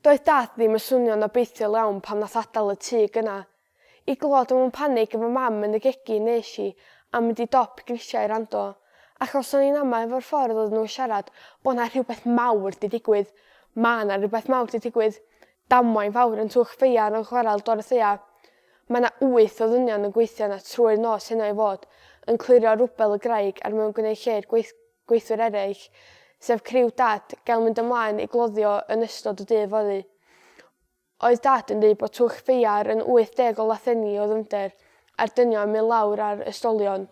Doedd Dad ddim yn swnio'n obeithiol iawn pan nath adael y tŷ gynna. I glywed o mewn panig efo Mam yn y gegin nes i am mynd i dop grisiau i rando, achos o'n i'n ama efo'r ffordd oedden nhw'n siarad bo' 'na rhywbeth mawr 'di digwydd. Ma' 'na rhywbeth mawr 'di digwydd. Damwain fawr yn Twch Feiar yn chwarel Dorothea. Ma' 'na wyth o ddynion yn gweithio 'na trwy'r nos heno i fod yn clirio rwbel y graig a'r mewn gwneud lled gweith gweithwyr eraill, sef criw Dad, gael mynd ymlaen i gloddio yn ystod y dydd fory. Oedd Dad yn dweud bod twll ffeiar yn 80 o lathenni o ddyfnder, a'r dynion yn mynd lawr ar ystolion.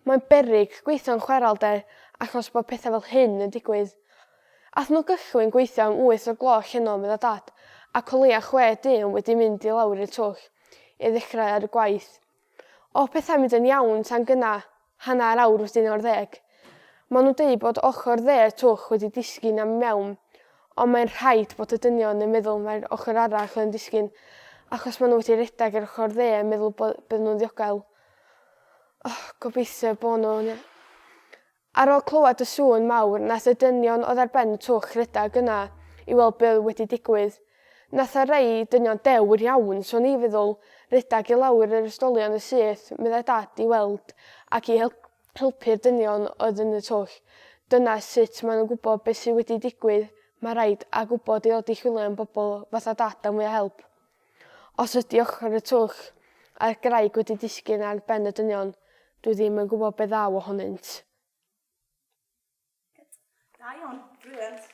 Mae'n beryg gweithio'n chwarelder achos bod pethau fel hyn yn digwydd. Aeth nhw gychwyn gweithio am wyth o'r gloch heno, medda Dad, ac o leia' chwe dyn wedi mynd i lawr i'r twll i ddechrau ar y gwaith. O pethau mynd yn iawn tan gynna, hanner awr wedyn o'r ddeg. Maen nhw'n deud bod ochr dde y twll wedi disgyn am mewn, ond mae'n rhaid bod y dynion yn meddwl mae'r ochr arall yn disgyn, achos maen nhw wedi rhedeg ar ochr dde yn meddwl bod bydden nhw'n ddiogel. Oh, gobeithio bod nhw'n Ar ol clywed y sŵn mawr nath y dynion oedd ar ben y twll redag yna i weld be oedd wedi digwydd. Nath y rhei dynion dewr iawn, so o'n i feddwl, redag i lawr yr ysdolion yn syth, meddai Dad, i weld ac i helpu'r dynion oedd yn y twll. Dyna sut maen nhw'n gwybod be sy wedi digwydd, ma raid, a gwybod i ddod i chwilio am bobl fatha Dad am fwy o help. Os ydy ochr y twll a'r graig wedi disgyn ar ben y dynion, dwi ddim yn gwybod be ddaw ohonynt. Da iawn, brilliant.